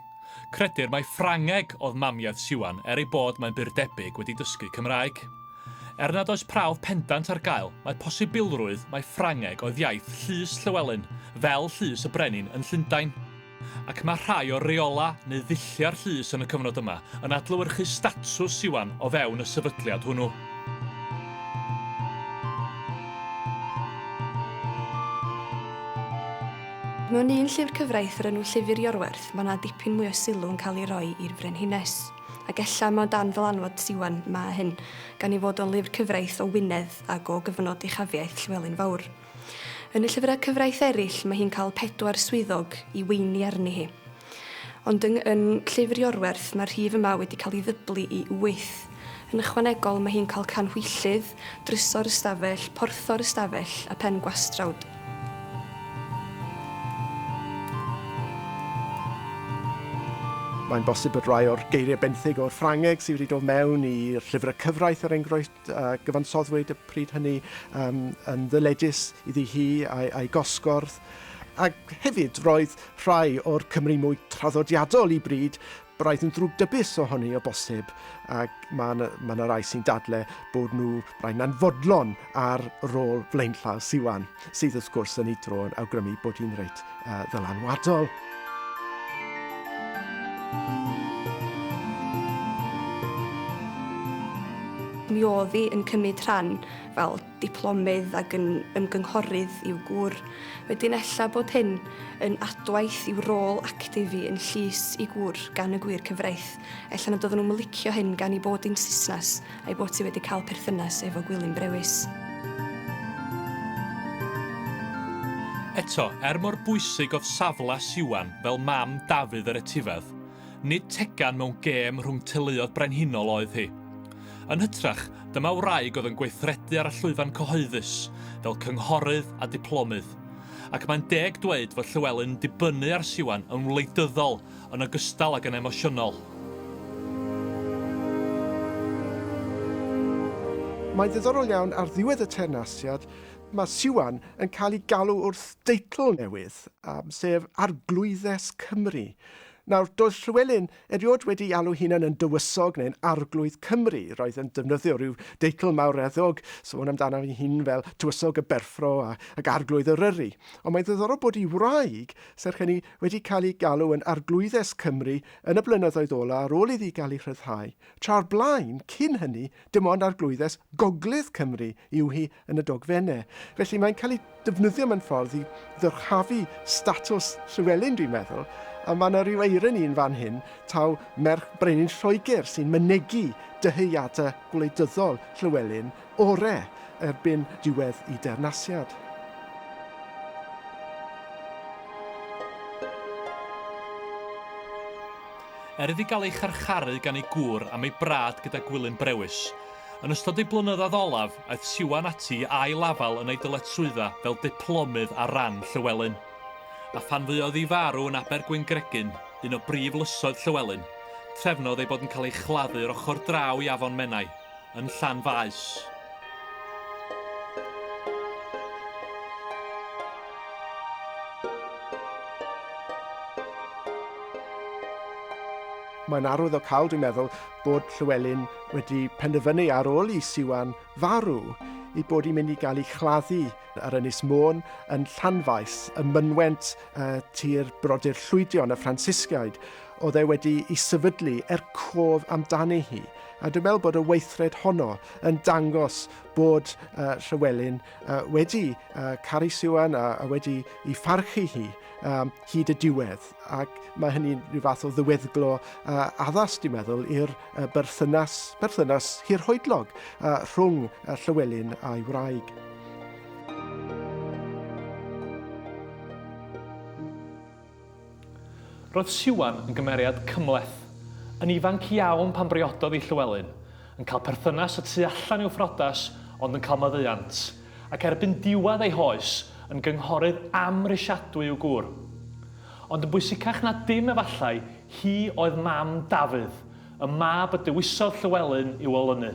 Credir mai Ffrangeg oedd mamiaith Siwan er ei bod mae'n bur debyg wedi dysgu Cymraeg. Er nad oes prawf pendant ar gael, mae posibilrwydd mai Ffrangeg oedd iaith Llys Llywelyn, fel Llys y Brenin yn Llundain. Ac mae rhai o reolau neu ddulliau'r llys yn y cyfnod yma yn adlewyrchu statws Siwan o fewn y sefydliad hwnnw. Mewn un llyfr cyfraith o'r enw Llyfr Iorwerth mae 'na dipyn mwy o sylw yn cael ei roi i'r frenhines. Ac ella mai dan ddylanwad ti ŵan mae hyn, gan ei fod o'n lyfr cyfraith o Wynedd ac o gyfnod uchafiaeth Llywelyn Fawr. Yn y llyfrau cyfraith eraill mae hi'n cael pedwar swyddog i weini arni hi. Ond yng yn Llyfr Iorwerth mae'r rhif yma wedi cael ei ddyblu i wyth. Yn ychwanegol mae hi'n cael canhwyllydd, Drysor ystafell, porthor ystafell a phen gwastrawd. Mae'n bosib bod rhai o'r geiriau benthyg o'r Ffrangeg sydd wedi dod mewn i'r llyfrau cyfraith er enghraifft a gyfansoddwyd y pryd hynny um, yn ddyledus iddi hi a'i, a'i gosgordd. Ac hefyd roedd rhai o'r Cymru mwy traddodiadol i bryd Braidd yn ddrwg dybus ohoni o bosib, ac mae yna, mae yna rai sy'n dadle bod nhw braidd yn anfodlon ar rôl flaenllaw Siwan, sydd wrth gwrs yn ei dro yn awgrymu bod hi'n reit uh, ddylanwadol. Mi oedd hi yn cymryd rhan fel diplomydd ac yn ymgynghorydd i'w gŵr. Wedyn ella bod hyn yn adwaith i'w rôl actif i yn llys i gŵr gan y gwir cyfraith. Ella nad oedden nhw'n licio hyn gan i bod i'n Saesnes a'i bod ti wedi cael perthynas efo Gwilym Brewis. Eto, er mor bwysig oedd safle Siwan fel mam Dafydd yr etifedd, nid tegan mewn gêm rhwng teuluoedd brenhinol oedd hi. Yn hytrach, dyma wraig oedd yn gweithredu ar y llwyfan cyhoeddus, fel cynghorydd a diplomydd. Ac mae'n deg dweud fod Llywelyn yn dibynnu ar Siwan yn wleidyddol yn ogystal ag yn emosiynol. Mae'n ddiddorol iawn, ar ddiwedd y teyrnasiad, mae Siwan yn cael ei galw wrth deitl newydd, sef Arglwyddes Cymru. Nawr, doedd Llywelyn Erioed wedi alw hunan yn dywysog neu'n arglwydd Cymru, roedd yn defnyddio rhyw deitl mawreddog, sôn amdano ei hun fel Tywysog y Berffro a, ac Arglwydd Eryri. Ond mae'n ddiddorol bod ei wraig, serch hynny, wedi cael ei galw yn Arglwyddes Cymru yn y blynyddoedd ola' ar ôl iddi gael ei rhyddhau, tra o'r blaen, cyn hynny, Dim ond Arglwyddes Gogledd Cymru yw hi yn y dogfennau. Felly mae'n cael ei defnyddio mewn ffordd i ddyrchafu statws Llywelyn, dwi'n meddwl, a mae yna ryw eironi yn fan hyn, taw merch brenin Lloegr sy'n mynegi dyheadau gwleidyddol Llywelyn ore erbyn diwedd y deyrnasiad. er iddi gael ei charcharu gan ei gŵr am ei brad gyda Gwilym Brewis. Yn ystod ei blynyddoedd olaf, aeth Siwan ati i ail-afael yn ei dyletswydda fel diplomydd ar ran Llywelyn. A phan fuodd iddi farw yn Aber Gwyngregyn, un o brif lysoedd Llywelyn, trefnodd ei bod yn cael ei chladdu yr ochr draw i Afon Menai, yn Llanfaes. Mae'n arwydd o cael, dwi'n meddwl, bod Llywelyn wedi penderfynu ar ôl i Siwan farw i bod i'n mynd i gael ei chladdu ar Ynys Môn yn Llanfaes, y mynwent uh, tir brodyr llwydion y Ffrancisgaid. oedd e wedi i sefydlu er cof amdani hi. A dwi'n meddwl bod y weithred honno yn dangos bod uh, Llywelyn uh, wedi uh, caru Siwan a, a wedi i pharchu hi um, hyd y diwedd. Ac mae hynny'n rhyw fath o ddyweddglo uh, addas, dwi'n meddwl, i'r uh, berthynas, berthynas hirhoedlog uh, rhwng uh, Llywelyn a'i wraig. Roedd Siwan yn gymeriad cymhleth. Yn ifanc iawn pan briododd i Llywelyn, yn cael perthynas y tu allan i'w phriodas ond yn cael maddeuant, ac erbyn diwedd ei hoes, yn gynghorydd amhrisiadwy i'w gŵr. Ond yn bwysicach na dim efallai, hi oedd mam Dafydd, y mab y dewisodd Llywelyn i'w olynu.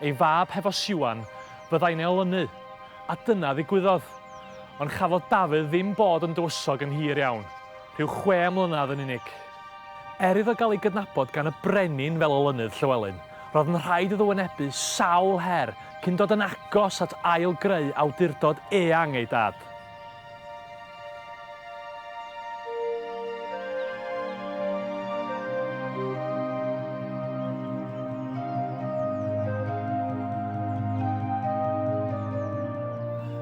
Ei fab hefo Siwan fyddai'n ei olynu, a dyna ddigwyddodd. Ond chafodd Dafydd ddim bod yn dywysog yn hir iawn, rhyw chwe mlynedd yn unig. Er iddo gael ei gydnabod gan y brenin fel olynydd Llywelyn, roedd yn rhaid iddo wynebu sawl her cyn dod yn agos at ail-greu awdurdod eang ei dad.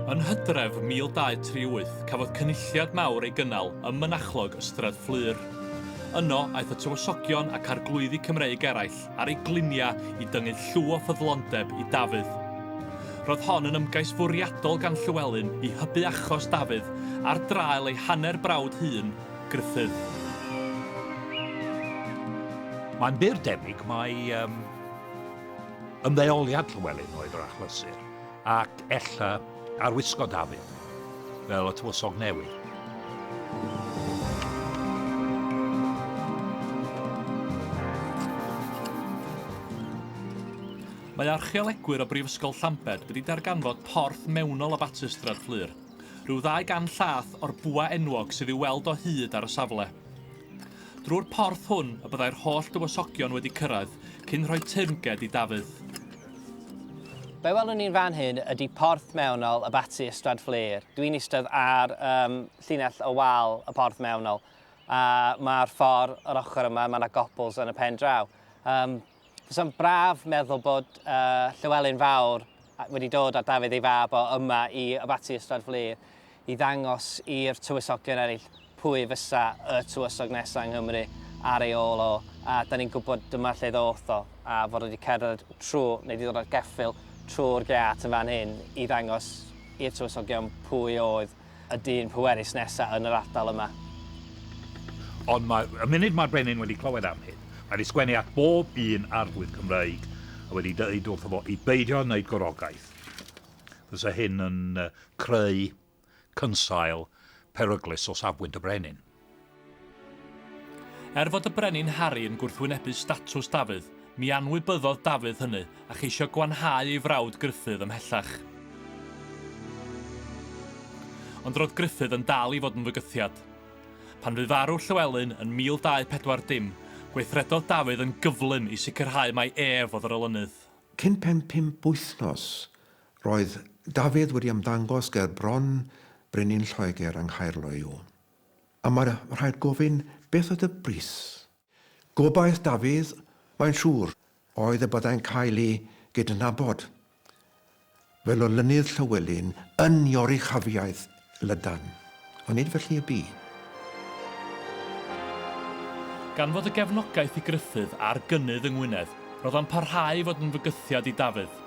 Yn hydref 1238, cafodd cynulliad mawr ei gynnal ym mynachlog Ystrad Fflur. Yno, aeth y tywysogion ac arglwyddi Cymreig eraill ar ei gliniau i dyngu llw o ffyddlondeb i Dafydd. Roedd hon yn ymgais fwriadol gan Llywelyn i hybu achos Dafydd ar draul ei hanner brawd hŷn, Gruffudd. Mae'n bur debyg mai ymddeoliad Llywelyn oedd yr achlysur. Ac ella ar wisgo Dafydd fel y tywysog newydd. Mae archeolegwyr o Brifysgol Llambed wedi darganfod porth mewnol o Batystrad Fflur, rhyw ddau gan llath o'r bwa enwog sydd i'w weld o hyd ar y safle. Drwy'r porth hwn y byddai'r holl dywysogion wedi cyrraedd cyn rhoi teyrnged i Dafydd. Be welwn ni'n fan hyn ydy porth mewnol y Batsi Ystrad Fflur. Dwi'n eistedd ar um, llinell o wal y porth mewnol a mae'r ffordd yr ochr yma, mae yna gobls yn y pen draw. Um, Fysa'n braf meddwl bod uh, Llywelyn Fawr wedi dod â Dafydd ei fab o yma i Abaty Ystrad Fflur i ddangos i'r tywysogion eraill pwy fysa y tywysog nesaf yng Nghymru ar ei ôl o, a da ni'n gwybod dyma lle ddoth o, a fod wedi cerdded trwy, neu wedi dod ar geffyl trwy'r gât yn fan hyn i ddangos i'r tywysogion pwy oedd y dyn pwerus nesaf yn yr ardal yma. Ond mae, y munud mae'r brenin wedi clywed am hyn, mae wedi sgwennu at bob un arglwydd Cymreig a wedi dweud wrtho fo i beidio wneud gwrogaeth. Fysa hyn yn creu cynsail peryglus o safbwynt y brenin. Er fod y brenin Harri yn gwrthwynebu statws Dafydd, mi anwybyddodd Dafydd hynny a cheisio gwanhau ei frawd Gruffudd ymhellach. Ond roedd Gruffudd yn dal i fod yn fygythiad. Pan fu farw Llywelyn yn 1240, gweithredodd Dafydd yn gyflym i sicrhau mai ef oedd yr olynydd. Cyn pen pump wythnos, roedd Dafydd wedi ymddangos ger bron Brenin Lloegr yng Nghaerloyw. A mae rhaid gofyn, beth oedd y bris? Gobaith Dafydd, mae'n siŵr, oedd y byddai'n cael ei gydnabod. Fel olynydd Llywelyn yn Ioruchafiaeth Lydan. Ond nid felly y bu. Gan fod y gefnogaeth i Gruffydd a'r gynnydd yng Ngwynedd, roedd o'n parhau i fod yn fygythiad i Dafydd.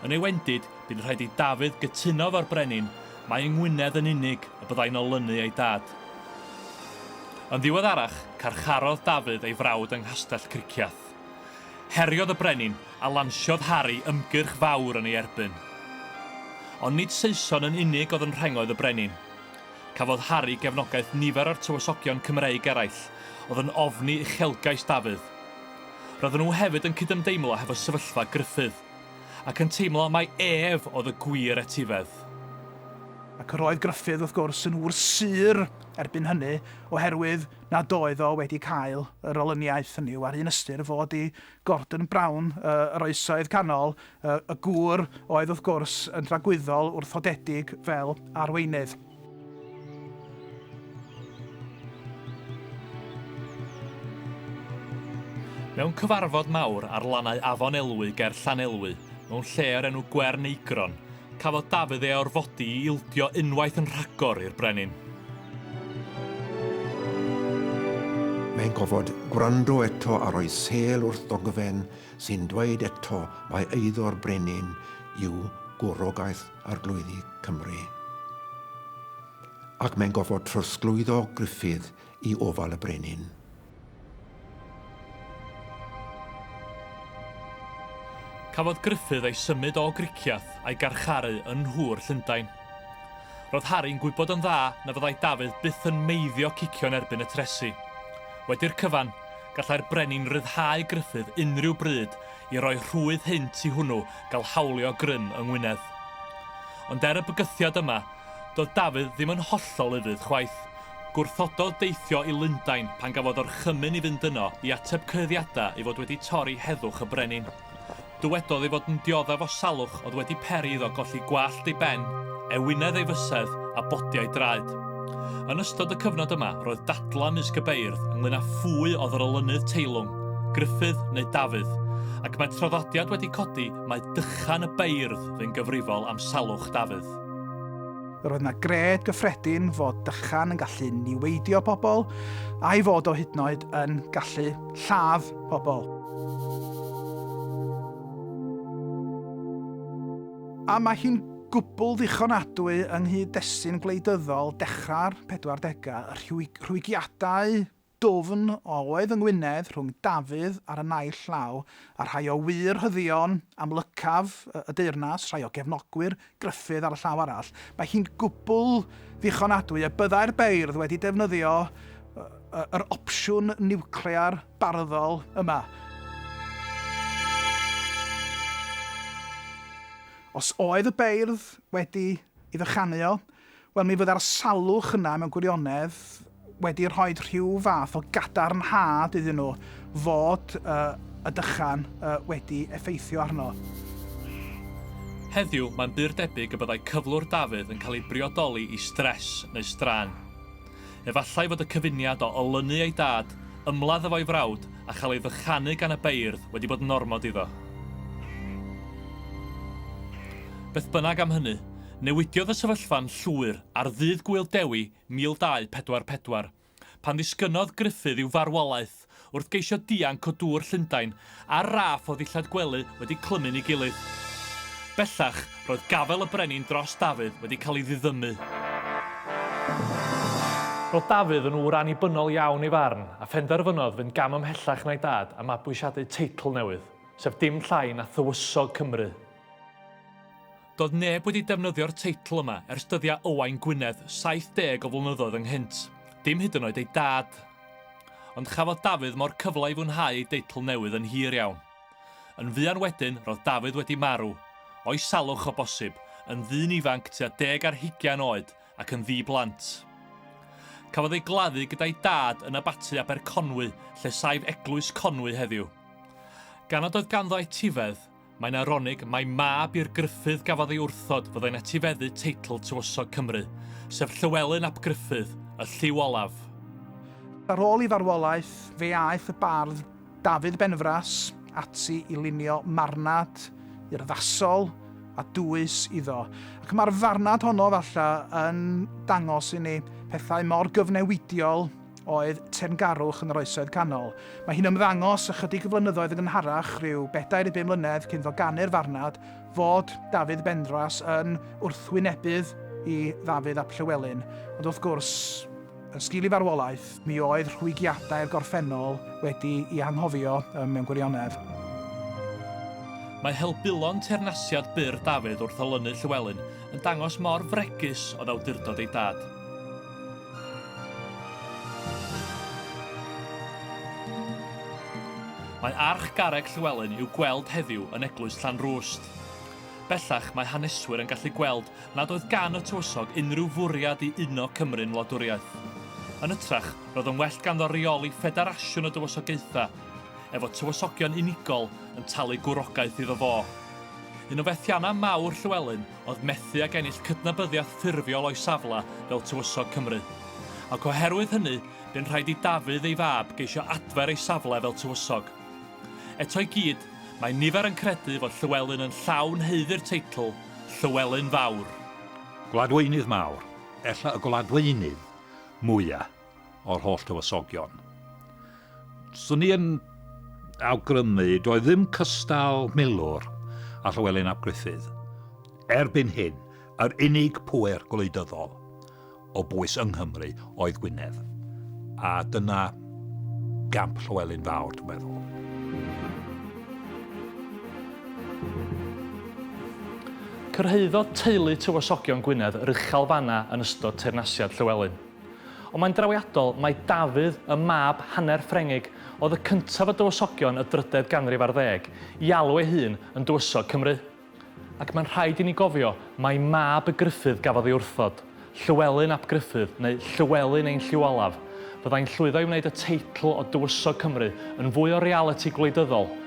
Yn ei wendid, bu'n rhaid i Dafydd gytuno efo'r brenin mai yng Ngwynedd yn unig y byddai'n olynu ei dad. Yn ddiweddarach, carcharodd Dafydd ei frawd yng Nghastell Cricieth. Heriodd y brenin a lansiodd Harri ymgyrch fawr yn ei erbyn. Ond nid Saeson yn unig oedd yn rhengoedd y brenin. Cafodd Harri gefnogaeth nifer o'r tywysogion Cymreig eraill oedd yn ofni uchelgais Dafydd. Roedden nhw hefyd yn cydymdeimlo hefo sefyllfa Gruffydd, ac yn teimlo mai ef oedd y gwir etifedd. Ac roedd Gruffydd, wrth gwrs, yn wr sur erbyn hynny, oherwydd, nad oedd o wedi cael yr olyniaeth hynny yw, ar un ystyr, fod i Gordon Brown, y, yr Oesoedd Canol, y, y gŵr oedd wrth gwrs yn dragwyddol wrthodedig fel arweinydd. Mewn cyfarfod mawr ar lannau Afon Elwy ger Llanelwy, mewn lle o'r enw Gwern Eigron, Cafodd Dafydd ei orfodi i ildio unwaith yn rhagor i'r brenin. Mae'n gofod gwrando eto a rhoi sêl wrth ddogfen sy'n dweud eto mai eiddo'r brenin yw gwrogaeth arglwyddi Cymru. Ac mae'n gofod trosglwyddo Gruffydd i ofal y brenin. Cafodd Gruffydd ei symud o Griciath a'i garcharu yn Nhŵr Llundain. Roedd Harry'n gwybod yn dda na fyddai Dafydd byth yn meiddio cicio yn erbyn y tresi. Wedi'r cyfan, gallai'r brenin ryddhau Gruffydd unrhyw bryd i roi rhwydd hynt i hwnnw gael hawlio grym yng Ngwynedd. Ond er y bygythiad yma, Doedd Dafydd ddim yn hollol ufudd chwaith. Gwrthododd deithio i Lundain pan gafodd orchymyn i fynd yno i ateb cyhuddiadau ei fod wedi torri heddwch y brenin. Dywedodd ei fod yn dioddef o salwch oedd wedi peri iddo golli gwallt ei ben, ewinedd ei fysedd a bodiau draed. Yn ystod y cyfnod yma roedd dadlau mysg y beirdd ynglŷn â phwy oedd yr olynydd teilwng, Gruffudd neu Dafydd, ac mae traddodiad wedi codi mai dychan y beirdd fu'n gyfrifol am salwch Dafydd. Yr oedd yna gred gyffredin fod dychan yn gallu niweidio pobl, a'i fod o hyd yn oed yn gallu lladd pobl. A mae hi'n gwbl ddichonadwy yng nghyd-destun gwleidyddol dechrau'r 40au, y rhwygiadau Dwfn oedd yng Ngwynedd rhwng Dafydd ar y naill llaw a rhai o wŷr rhyddion amlycaf y deyrnas, rhai o gefnogwyr Gruffydd ar y llaw arall. Mae hi'n gwbl ddichonadwy y byddai'r beirdd wedi defnyddio yr opsiwn niwclear barddol yma. Os oedd y beirdd wedi ei fychanu o, Wel, mi fydda'r salwch yna mewn gwirionedd wedi rhoi rhyw fath o gadarnhad iddyn nhw fod uh, y dychan uh, wedi effeithio arno. Heddiw, mae'n bur debyg y byddai cyflwr Dafydd yn cael ei briodoli i stres neu straen. Efallai fod y cyfuniad o olynu ei dad, ymladd efo'i frawd a chael ei ddychanu gan y beirdd wedi bod yn ormod iddo. Beth bynnag am hynny, Newidiodd y sefyllfa'n llwyr ar ddydd Gŵyl Dewi 1244, pan ddisgynnodd Gruffydd i'w farwolaeth wrth geisio dianc o dŵr Llundain ar raff o ddillad gwely wedi clymu'n ei gilydd. Bellach, roedd gafael y brenin dros Dafydd wedi cael ei ddiddymu. Roedd Dafydd yn ŵr annibynnol iawn ei farn, a phenderfynodd fynd gam ymhellach na'i dad a mabwysiadu teitl newydd, sef dim llai na Thywysog Cymru. Doedd neb wedi defnyddio'r teitl yma ers dyddiau Owain Gwynedd 70 o flynyddoedd ynghynt, dim hyd yn oed ei dad. Ond chafodd Dafydd mo'r cyfle i fwynhau ei deitl newydd yn hir iawn. Yn fuan wedyn, roedd Dafydd wedi marw, o'i salwch o bosib, yn ddyn ifanc tua deg ar hugain oed ac yn ddi-blant. Cafodd ei gladdu gyda'i dad yn Abaty Aberconwy, lle saif Eglwys Conwy heddiw. Gan nad oedd ganddo etifedd, Mae'n aronig mai mab i'r Gruffudd gafodd ei wrthod fyddai'n etifeddu teitl Tywysog Cymru, sef Llywelyn ap Gruffudd, y lliw olaf. Ar ôl ei farwolaeth, fe aeth y bardd Dafydd Benfras ati i lunio marnad urddasol a dwys iddo, ac mae'r farnad honno, falle, yn dangos i ni pethau mor gyfnewidiol, oedd teyrngarwch yn yr Oesoedd Canol. Mae hi'n ymddangos ychydig o flynyddoedd yn gynharach, rhyw bedair i bum mlynedd cyn iddo ganu'r farnad, fod Dafydd Benrhos yn wrthwynebydd i Ddafydd ap Llywelyn, ond wrth gwrs, yn sgil ei farwolaeth, mi oedd rhwygiadau'r gorffennol wedi'i anghofio mewn gwirionedd. Mae helbulon teyrnasiad byr Dafydd wrth olynu Llywelyn yn dangos mor fregus oedd awdurdod ei dad. Mae Arch Garreg Llywelyn i'w gweld heddiw yn Eglwys Llanrwst. Bellach mae haneswyr yn gallu gweld nad oedd gan y tywysog unrhyw fwriad i uno Cymru'n wladwriaeth. Yn ytrach, roedd yn well ganddo reoli ffederasiwn o dywysogaethau, efo tywysogion unigol yn talu gwrogaeth iddo fo. Un o fethiannau mawr Llywelyn oedd methu ag ennill cydnabyddiaeth ffurfiol o'i safle fel Tywysog Cymru. Ac oherwydd hynny, bu'n rhaid i Dafydd ei fab geisio adfer ei safle fel tywysog. Eto i gyd, mae nifer yn credu fod Llywelyn yn llawn haeddu'r teitl Llywelyn Fawr. Gwladweinydd mawr, ella y gwladweinydd mwya'. o'r holl dywysogion. Swn i yn awgrymu, doedd ddim cystal milwr a Llywelyn ap Gruffydd. Erbyn hyn, yr unig pŵer gwleidyddol o bwys yng Nghymru oedd Gwynedd. A dyna gamp Llywelyn Fawr, dwi'n meddwl. Cyrhaeddodd teulu tywysogion Gwynedd rychel fanna yn ystod teyrnasiad Llywelyn. Ond mae'n drawiadol mai Dafydd, y mab hanner Ffrengig, oedd y cyntaf o dywysogion y drydedd ganrif ar ddeg, i alw ei hun yn dywysog Cymru. Ac mae'n rhaid i ni gofio mai mab y Gruffydd gafodd ei wrthod, Llywelyn ap Gruffydd, neu Llywelyn ein Llyw Olaf, fyddai'n llwyddo i wneud y teitl o dywysog Cymru yn fwy o realiti gwleidyddol,